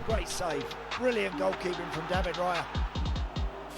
Great save. Brilliant goalkeeping from David Raya.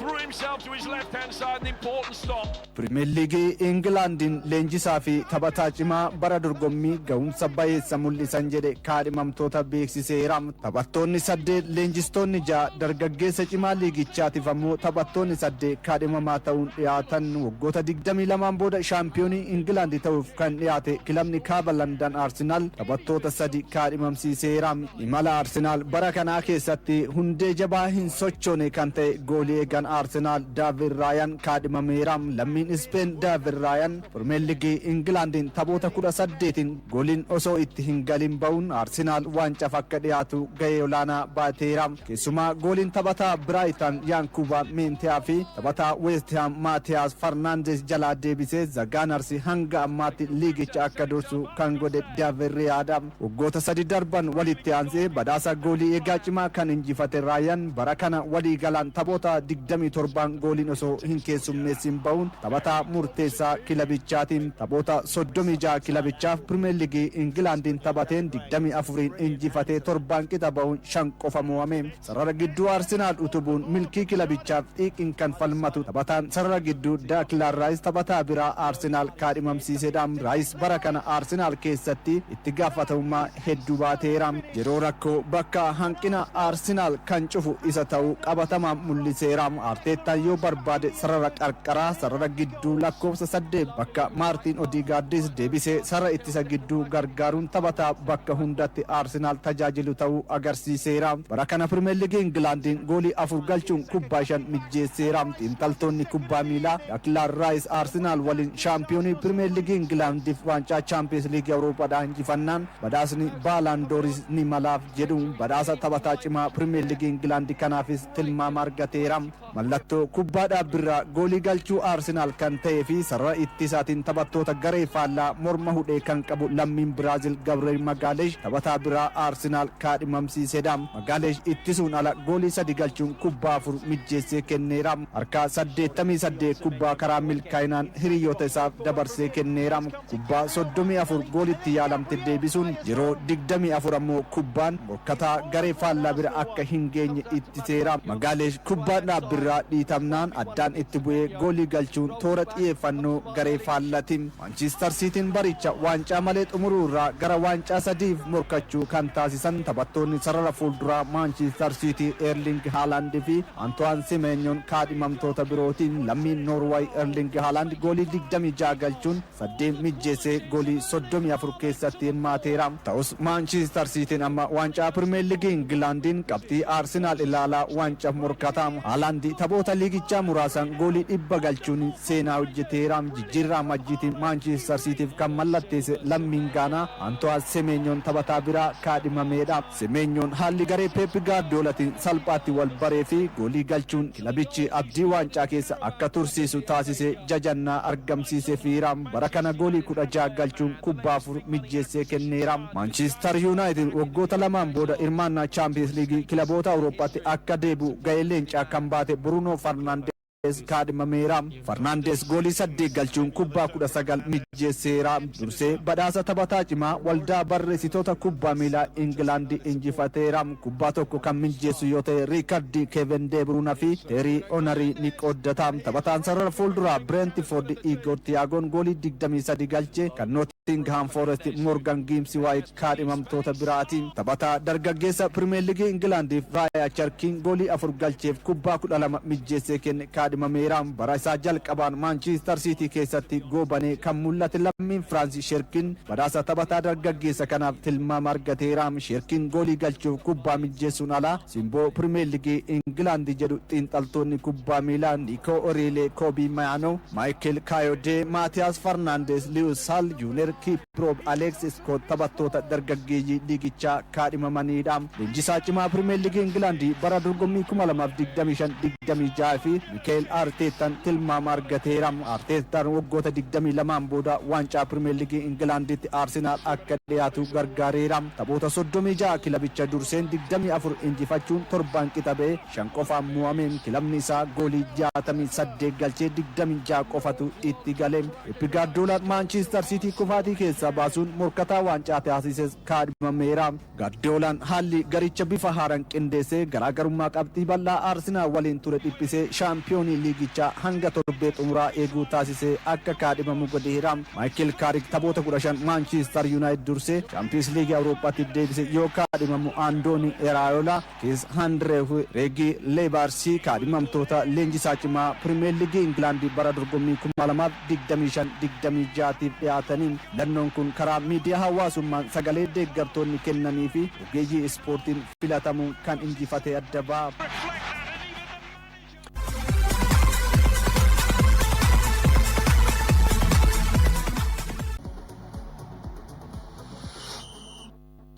Threw himself to his left hand side, an important stop. Pirimeer Liigii Ingilaandiin leenjisaa fi taphataa cimaa bara dorgommii gahumsa bayeessa mul'isan jedhe kaadhimamtoota beeksiseera. Taphattoonni saddeet, leenjistoonni ja'a, dargaggeessa cimaa liigichaatiif ammoo taphattoonni saddeet kaadhimamaa ta'uun dhiyaatan. Waggoota 22n booda shaampiyoonii Ingilaandi ta'uuf kan dhiyaate kilabni Kaaba Landan Arsenaal taphattoota sadi kaadhimamsiiseera. Imala Arsenaal bara kanaa keessatti hundee jabaa hin sochoone kan ta'e goolii eegaan Arsenaal Daavid Raayan kaadhimameera. Lammiin Ispeen Daavid Raayan Pirimeer Ligii Ingilaandiin taphoota 18n gooliin osoo itti hin galin ba'uun Arsenaal waancaaf akka dhiyaatu gahee olaanaa ba'ateera. Keessumaa gooliin taphataa Biraayitan Yaankuubaa Meenteyaa fi taphataa Weestihaam Maatiyaas Farnaandees jalaa deebisee Zagaanarsi hanga ammaatti liigicha akka dursu kan godhe Daavid Raayaadha. Waggoota sadi darban walitti aansee badhaasa goolii eegaa cimaa kan injifate Raayan bara kana walii galaan taphoota digdamii torbaan gooliin osoo hin keessummeessiin bahuun taphataa murteessaa kilabichaati. Taphoota soddomii ja'a kilabichaaf Pirimeer Liigii Ingilaandiin taphateen digdamii afuriin injifatee torbaan qixa bahuun shan qofa moo'ame. Sarara gidduu Arsenaal utubuun milkii kilabichaaf xiiqiin kan falmatu taphataan sarara gidduu Daaklaan Raayis taphataa biraa Arsenaal kaadhimamsiisedha. Raayis bara kana Arsenaal keessatti itti gaafatamummaa hedduu baateera. Yeroo rakkoo bakka hanqina Arsenaal kan cufu isa ta'uu qabatamaan mul'iseera. Arteettaan yoo barbaade sarara qarqaraa, sarara gidduu, Gidduu lakkoofsa 8 bakka Maartiin Odiigaardis deebisee sarara ittisa gidduu gargaaruun taphataa bakka hundatti Arsenaal tajaajilu ta'uu agarsiiseera. Bara kana Pirimeer Liigii Ingilaandiin goolii afur galchuun kubbaa shan mijjeesseera. Xiinxaltoonni kubbaa miilaa Daklaan Raayis Arsenaal waliin shaampiyoonii Pirimeer Liigii Ingilaandiif waancaa Chaampiyeens Liigii Awurooppaadhaa injifannaan badhaasni Baalaan Dooris ni malaaf jedhu. Badhaasa taphataa cimaa Pirimeer Liigii Ingilaandi kanaafis tilmaama argateera. Mallattoo kubbaa dhaabbiirraa goolii galchuu Arsenaal kan ta'ee fi sarara ittisaatiin taphattoota garee faallaa morma hudhee kan qabu lammiin Biraazil Gabreel Magaaleesh taphataa biraa Arsenaal kaadhimamsiiseedha. Magaaleesh ittisuun ala goolii sadi galchuun kubbaa afur mijjeessee kenneera. Harkaa saddeettamii saddeet kubbaa karaa milkaa'inaan hiriyoota isaaf dabarsee kenneera. kubbaa 34 goolitti yaalamte deebisuun yeroo 24 ammoo kubbaan morkataa garee faallaa bira akka hin geenye ittiseera. Magaalesh kubbaa dhaabbirraa dhiitamnaan addaan itti bu'ee goolii galchuun toora xiyeeffannoo garee faallati. Maanchiistar Siitiin baricha waancaa malee xumuruurraa gara waancaa sadiif morkachuu kan taasisan taphattoonni sarara fuulduraa Maanchiistar Siitii Eerling Haalaand fi Antuwaan Simeenyoon kaadhimamtoota birootiin lammiin Noorwaay Erlingi Haalaand goolii 26 galchuun saddeen mijjeessee goolii 34 keessatti hirmaateera. Ta'us Maanchistar Siitiin amma waancaa Pirimeer Ligii Ingilaandiin qabxii Arsinaal ilaalaa waancaaf morkata. Haalaandi taphoota liigichaa muraasan goolii dhibba galchuun seenaa hojjeteera. Jijjiirraa Amajjiitiin Maanchistar Siitiif kan mallatteesse lammiin Gaanaa Antuwaan Semeenyoon taphataa biraa kaadhimameedha. Semeenyoon haalli garee Peep Gaardiyoolatiin salphaatti wal baree fi goolii galchuun kilabichi abdii waancaa keessa akka tursiisu taasisee jajannaa argamsiisefiira. Bara kana goolii 16 galchuun kubbaa afur mijjeessee kenneera. Maanchistar Yuunaayitid waggoota lamaan booda hirmaannaa Chaampiyeens Liigii Kilaboota Awurooppaatti akka deebi'u gahee leencaa kan baate Buruunoo Farnaandeez, Faarnaandeez kaadhimameera. Faarnaandeez goolii saddeet galchuun kubbaa kudha sagal mijeesseera. Dursee badhaasa taphataa cimaa waldaa barreessitoota kubbaa miilaa Ingilaandi injifateera. Kubbaa tokko kan mijeessu yoo ta'e riikardii Keeven Dee Biruuna fi Teerii Onarii ni qooddata. Taphataan sarara fuulduraa Bireentifoordi Iigoor Tiyaagoon goolii digdamii sadii galche kan Noot. Notingihaam Foorest Moorgan Giimsi Waayit kaadhimamtoota biraati. Taphataa dargaggeessa Pirimeer Ligii Ingilaandiif Raaya Charkiin goolii afur galcheef kubbaa kudha lama mijjeessee kenne kaadhimameera. Bara isaa jalqabaan Maanchiistar Siitii keessatti goobanee kan mul'ate lammiin Firaansi Sheerkiin badhaasa taphataa dargaggeessa kanaaf tilmaama argateera. Sheerkiin goolii galchuuf kubbaa mijjeessuun ala simboo Pirimeer Ligii Ingilaandi jedhu xiinxaltoonni kubbaa miilaa Niikoo Oriilee, Koobii Mayaanoo, Maayikel Kaayodee, Maatiyaas Farnaandeez, Liwis Saal, Juuneer Kiiproob, Aleeks Iskoot taphattoota dargaggeeyyii liigichaa kaadhimamaniidha. Leenjisaa cimaa Pirimeer Liigii Ingilaandi bara dorgommii 2025, 26 fi Mikaa'el Aarteettan tilmaama argateera. Aarteettan waggoota 22n booda waancaa Pirimeer Liigii Ingilaanditti Aarsenaal akka dhiyaatu gargaareera. Taphoota 36 kilabicha durseen 24 injifachuun torbaan qixa ba'e. shan qofaan mo'ame. Kilabni isaa goolii 68 galchee 26 qofatu itti gale. Pep Gaardiolaan Maanchiistar Siitii kufaatii keessaa baasuun morkataa waancaa taasises kaadhimameera. Gaardiyoolaan haalli garicha bifa haaraan qindeessee garaagarummaa qabxii bal'aa Arsenaal waliin ture dhiphisee shaampiyoonii liigichaa hanga torbee xumuraa eeguu taasisee akka kaadhimamu godheera. Maayikil Kaarik taphoota 15 Maanchiistar Yuunaayitid dursee Shaampiyoonsi Liigii Awurooppaatiif deebise yoo kaadhimamu Andoonii Eraayoolaa Kiis Handreew Reegii Leebaarsii kaadhimamtoota leenjisaa cimaa Pirimeer Liigii Ingilaandi bara dorgommii 2025 26 tiif dhiyaatanii filannoon kun karaa miidiyaa hawaasummaan sagalee deeggartoonni kennanii fi ogeeyyii ispoortiin filatamuun kan injifate adda ba'a.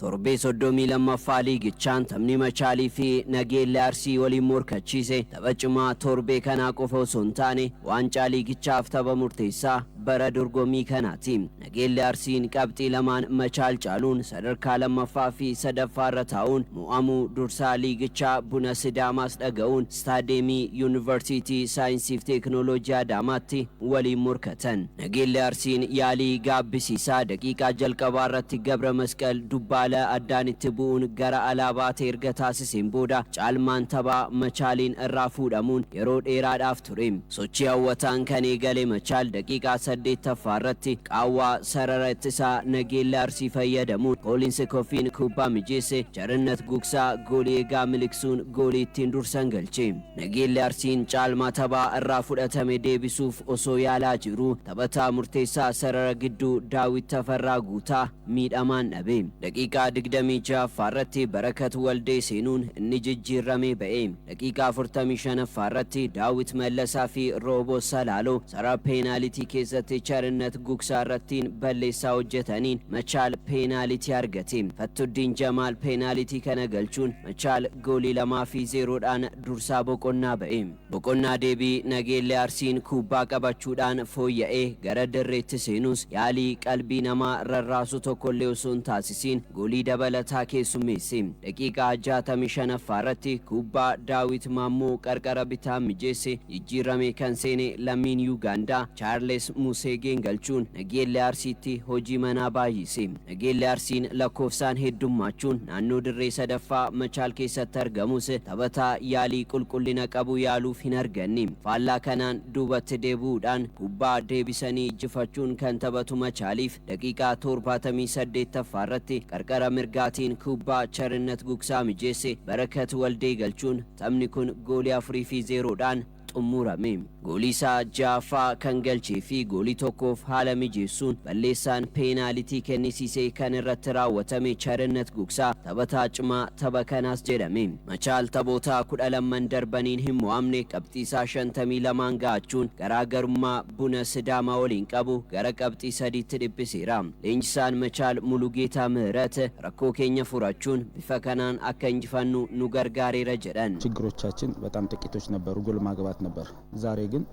Torbee 32ffaa liigichaan taphni Machaalii fi Nageellee Arsii waliin morkachiise tapha cimaa torbee kanaa qofa osoo hin taane waancaa liigichaaf tapha murteessaa bara dorgommii kanaati. Nageellee Arsiin qabxii lamaan Machaal caaluun sadarkaa 2ffaa fi 3ffaarra taa'uun mo'amuu dursaa liigichaa Buna Sidaamaas dhaga'uun Istaadiyeemii Yuunivarsiitii Saayinsiif Teeknooloojii Adaamaatti waliin morkatan. Nageellee Arsiin yaalii gaabbisiisaa daqiiqaa jalqabaarratti Gabramasqal Dubbaala addaan itti bu'uun gara alaa baate erga taasiseen booda caalmaan taphaa Machaaliin irraa fuudhamuun yeroo dheeraadhaaf ture. Sochii hawwataan kan eegale Machaal daqiiqaa 8ffaa irratti qaawwaa sarara ittisaa Nageelle Arsii fayyadamuun Koolinsi Kofiin kubbaa mijeesse Charinnat Gugsaa goolii eegaa miliqsuun goolii ittiin dursan galche. Nageelle Arsiin caalmaa taphaa irraa fudhatame deebisuuf osoo yaalaa jiruu taphataa murteessaa sarara gidduu Daawit Tafarraa Guutaa miidhamaan dhabe. Daqiiqaa 26ffaa irratti Barakat Waldee seenuun inni jijjiirramee ba'e. Daqiiqaa 45ffaa irratti Daawit Mallasaa fi Rooboo Salaaloo sarara peenaalitii keessatti Charinnat Gugsaa irrattiin balleessaa hojjetaniin Machaal peenaalitii argate. Fattuddiin Jamaal peenaalitii kana galchuun Machaal goolii 2 fi 0 dhaan dursaa boqonnaa ba'e. Boqonnaa deebii Nageellee Arsiin kubbaa qabachuudhaan fooyya'ee gara dirreetti seenus yaalii qalbii namaa rarraasu tokkollee osoo hin taasisiin Chelsiin goolii dabalataa keessummeesse. Daqiiqaa 65ffaa irratti kubbaa Daawit Maammoo qarqara bitaan mijeesse jijjiirramee kan seene lammiin Yuugaandaa Chaarles Museegeen galchuun Nageellee Arsiitti hojii manaa baay'ise. Nageellee Arsiin lakkoofsaan heddummaachuun naannoo dirree 3ffaa Machaal keessatti argamus taphataa yaalii qulqullina qabu yaaluuf hin arganne. Faallaa kanaan duubatti deebi'uudhaan kubbaa deebisanii ijjifachuun kan taphatu Machaaliif Daqiiqaa 78ffaa irratti qarqara mirgaatiin kubbaa Charinnat Gugsaa mijeesse Barakat Waldee galchuun taphni kun goolii 4 fi 0 dhaan xummuurame. Goolii isaa 6ffaa kan galchee fi goolii tokkoof haala mijeessuun balleessaan peenaalitii kennisiise kan irratti raawwatame Charinnat Gugsaa taphataa cimaa tapha kanaas jedhame. Machaal taphoota 12n darbaniin hin mo'amne, qabxiisaa 52n gahachuun garaa garummaa Buna Sidaamaa waliin qabu gara qabxii sadiitti dhiphiseera. Leenjisaan Machaal Mulugeetaa Mihirat rakkoo keenya furachuun bifa kanaan akka injifannu nu gargaareera jedhan. Chiggirochaachin bexaam xiqqiitoch nebbaru, gol maagbaat nebbar. Zaaree gin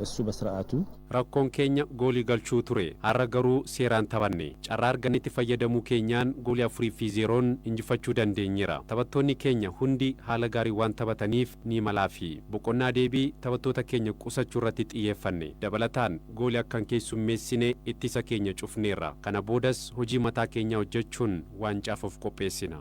issu besira'aatu. Rakkoon keenya goolii galchuu ture. Har'a garuu seeraan taphanne. Carraa argannetti fayyadamuu keenyaan goolii afurii fi zeeroon injifachuu dandeenyeera. Taphattoonni keenya hundi haala gaariin waan taphataniif ni malaafi. Boqonnaa deebii taphattoota keenya qusachuu irratti xiyyeeffanne. Dabalataan goolii akka hin keessummeessine ittisa keenya cufneerra. Kana boodas hojii mataa keenyaa hojjechuun waancaaf of qopheessina.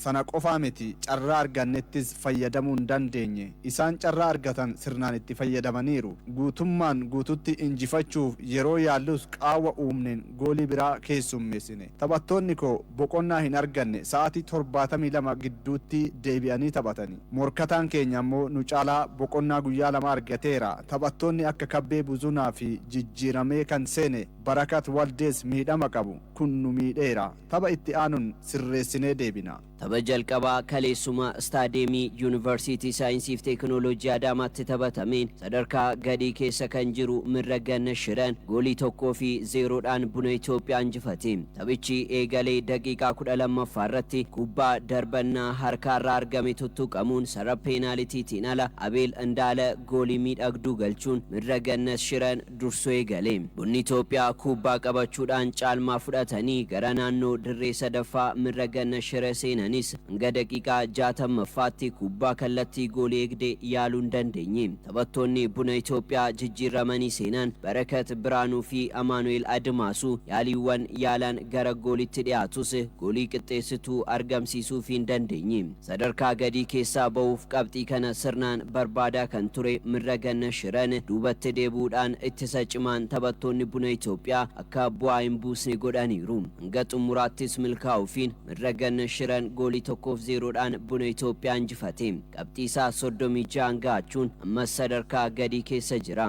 Sana qofaa miti, carraa argannettis fayyadamuu hin dandeenye. Isaan carraa argatan sirnaan itti fayyadamaniiru. Guutummaan guutuutti injifachuuf yeroo yaallus qaawwa uumneen goolii biraa keessummeessine. Taphattoonni koo boqonnaa hin arganne, sa'aatii 72 gidduutti deebi'anii taphatani. Morkataan keenya ammoo nu caalaa boqonnaa guyyaa lama argateera. Taphattoonni akka Kabbee Buzunaa fi jijjiiramee kan seene Barakat Waldees miidhama qabu. Kun nu miidheera. Tapha itti aanun sirreessinee deebina. Tapha jalqabaa kaleessuma Istaadiyeemii Yuunivarsiitii Saayinsiif Teekinooloojii Adaamaatti taphatameen sadarkaa gadii keessa kan jiru Mirra Ganna Shiran goolii 1 fi 0 dhaan Buna Itoophiyaa injifate. Taphichi eegalee daqiiqaa 12ffaa irratti kubbaa darbannaa harkaarraa argame tuttuqamuun sarara peenaalitiitiin ala Abeel Indaala goolii miidhagduu galchuun Mirra Gannas Shiran dursu eegale. Bunni Itoophiyaa kuubbaa qabachuudhaan caalmaa fudhatanii gara naannoo dirree sadaffaa mirra ganna shira seenanis hanga daqiiqaa jaatammaffaatti kuubbaa kallattii goolii eegde yaaluu hin dandeenye. Taphattoonni Buna Itoophiyaa jijjiirramanii seenan Barakat Biraanuu fi Amaanu'eel Adimaasuu yaaliiwwan yaalaan gara gooliitti dhiyaatus goolii qixxeessituu argamsiisuufii hin dandeenye. Sadarkaa gadii keessaa ba'uuf qabxii kana sirnaan barbaadaa kan ture Mirra Ganna Shiran duubatti deebi'uudhaan ittisa cimaan taphattoonni Buna Itoophiyaa akka bu'aa hin buusne godhaniiru. Hanga xumuraattis milkaa'uufiin Mirra Ganna Shiran goolii 1f 0 dhaan Buna Itoophiyaa injifate. Qabxii isaa 36n ga'achuun ammas sadarkaa gadii keessa jira.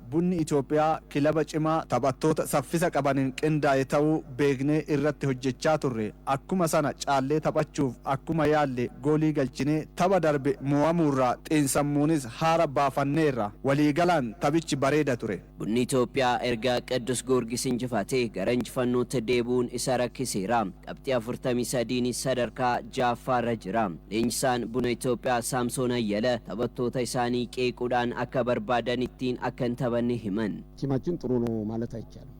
Bunni Itoophiyaa kilaba cimaa taphattoota saffisa qabaniin qindaa'e ta'uu beeknee irratti hojjechaa turre. Akkuma sana caallee taphachuuf akkuma yaalle goolii galchinee tapha darbe moo'amuurraa xiinsammuunis haara baafanneerra. Waliigalaan taphichi bareeda ture. Bunni Itoophiyaa erga Qiddus Goorgis injifatee gara injifannootti deebi'uun isa rakkiseera. Qabxii 43'n sadarkaa 6ffaarra jira. Leenjisaan Buna Itoophiyaa Saamsoon Ayyala taphattoota isaanii qeequudhaan akka barbaadan ittiin akka hin taphanne himan. Tiimaachin xuru no maalet ayichaalm.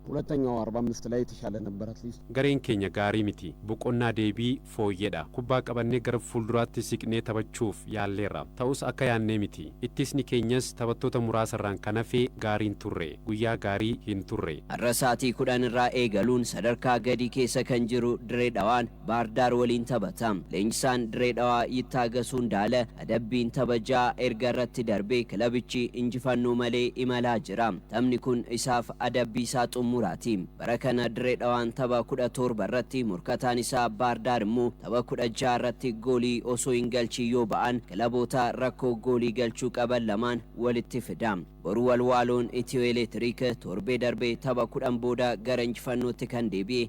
Hulattanyaw arba amist lay itishaale nabber at least. Gareen keenya gaarii miti. Boqonnaa deebii fooyyeedha. Kubbaa qabannee gara fuulduraatti siqnee taphachuuf yaalleerra. Ta'us akka yaannee miti. Ittisni keenyas taphattoota muraasarraan kan hafe gaarii hin turre. Guyyaa gaarii hin turre. Har'a sa'atii 10 irraa eegaluun sadarkaa gadii keessa kan jiru Dire Dhawaan Baar Daar waliin taphata. Leenjisaan Dirree Dhawaa Yittaagasu Indaala adabbiin tapha 6 erga irratti darbee kilabichi injifannoo malee imalaa jira. Taphni kun isaaf adabbii isaa xummuraati. Bara kana Dirree Dhawaan tapha 17 irratti morkataan isaa Baar Daar immoo tapha 16 irratti goolii osoo hin galchiin yoo ba'an kilaboota rakkoo goolii galchuu qaban lamaan walitti fida. Boru Walwaaloon Itiyoo Eleetiriik torbee darbe tapha 10 booda gara injifannootti kan deebi'e